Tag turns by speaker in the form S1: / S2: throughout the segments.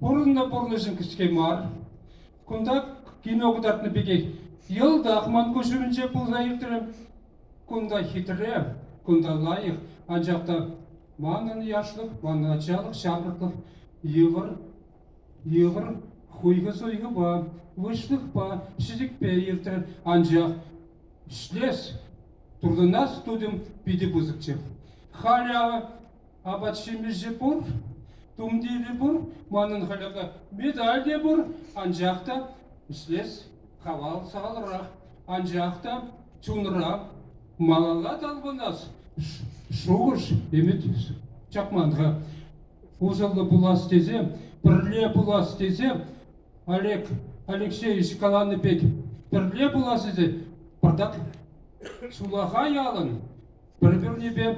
S1: Пурӑннӑ пурнӑҫӗ кӗске мар. Кунта кино кӑтартнӑ пекех йӑлтах ман куҫумӗнче пулса иртрӗ. Кунта хитре, кунта лайӑх, анчах та манӑн яшлӑх, манӑн ачалӑх, ҫамрӑклӑх йывӑр, йывӑр хуйхӑ-суйхӑпа, выҫлӑхпа, ҫӗтӗкпе иртрӗ. Анчах ӗҫлес, туртӑнас тутӑм питӗ пысӑкчӗ. Халӗ Апат-ҫимӗҫ те пур, тумтирӗ пур, манӑн хӑлӗпе медаль те пур, анчах та ӗҫлес хавал салӑрах, анчах та чунра малалла талпӑнас шухӑш, ӗмӗт чакман-ха. Усӑллӑ пулас тесе, пӗрле пулас тесе Олег Алексеевич каланӑ пек пӗрле пулас тесе пӑртак сулахай ялӑн пӗр-пӗрнипе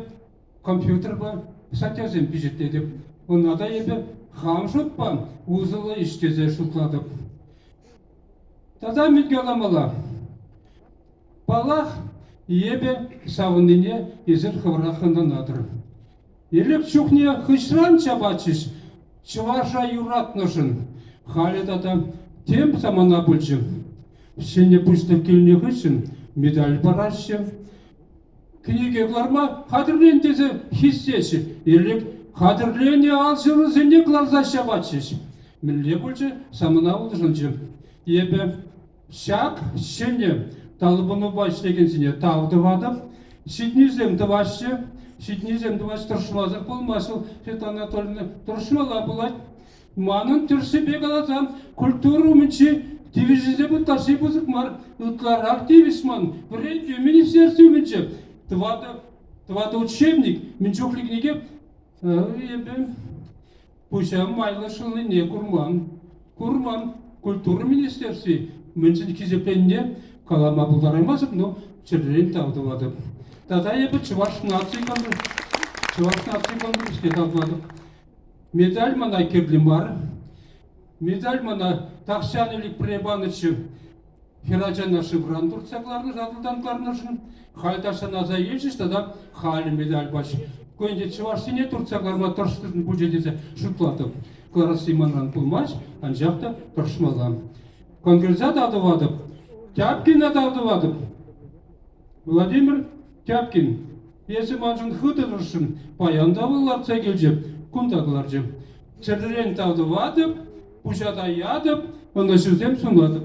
S1: компьютерпа статьясем пичетлетӗп. Ӑна та эпӗ хам шутпа усӑллӑ ӗҫ тесе шутлатӑп. Тата мӗн каламалла? Паллах, эпӗ савӑннине эсир хӑвӑрах ӑнланатӑр. Элек чухне хыҫран чапатчӗҫ чӑваша юратнӑшӑн. Халӗ тата тем самана пулчӗ. Ҫӗнӗ пустырь килнӗ хыҫҫӑн медаль параҫҫӗ. кӗнеке кӑларма хатӗрлен тесе хистеҫҫӗ. Ирӗк хатӗрленӗ алҫырусене кӑларса ҫапатчӗҫ. Мӗнле пулчӗ? Самана улшӑнчӗ. Эпӗ ҫак ҫӗнӗ талпӑнупа ӗҫлекенсене тав тӑватӑп. Ҫитӗнӳсем тӑваҫҫӗ. Ҫитӗнӳсем тӑваҫ тӑрӑшмасӑр пулмасть вӑл. Света Анатольевна тӑрӑшмалла пулать. Манӑн тӗрӗсепе каласан, культура умӗнчи тивӗҫӗсем ытлашши пысӑк мар. Ытларах тивӗҫ ман вӗрентӳ министерстви умӗнче. Тӑватӑ, тӑватӑ учебник мӗн чухлӗ кӗнеке эпӗ пуҫа майлӑ шӑлнине курман. Курман. Культура министерстви мӗншӗн хисепленнине калама пултараймастӑп, но чӗререн тав тӑватӑп. Тата эпӗ Чӑваш наци конкурс Чӑваш наци конкурсне тавлатӑп. Медаль мана кирлӗ мар. Медаль мана тахҫан ӗлӗкпе панӑччӗ хӗрачана шывран туртса кӑларнӑ, сатӑлтан кӑларнӑшӑн. Халь тахҫан аса илчӗҫ тата халӗ медаль пач. Кунӗнче чӑвашсене туртса кӑларма тӑрӑшнӑшӑн пулчӗ тесе шутлатӑп. Кӑларасси манран пулмасть, анчах та тӑрӑшмалла. Конгресса та тӑватӑп, Тяпкина та тӑватӑп. Владимир Тяпкин Эсӗ маншӑн хытӑ тӑрӑшрӑн, паян та вӑл лартса килчӗ, кунта кӑларчӗ. Чӗререн тав тӑватӑп, пуҫа таятӑп, ӑнӑҫусем сунатӑп.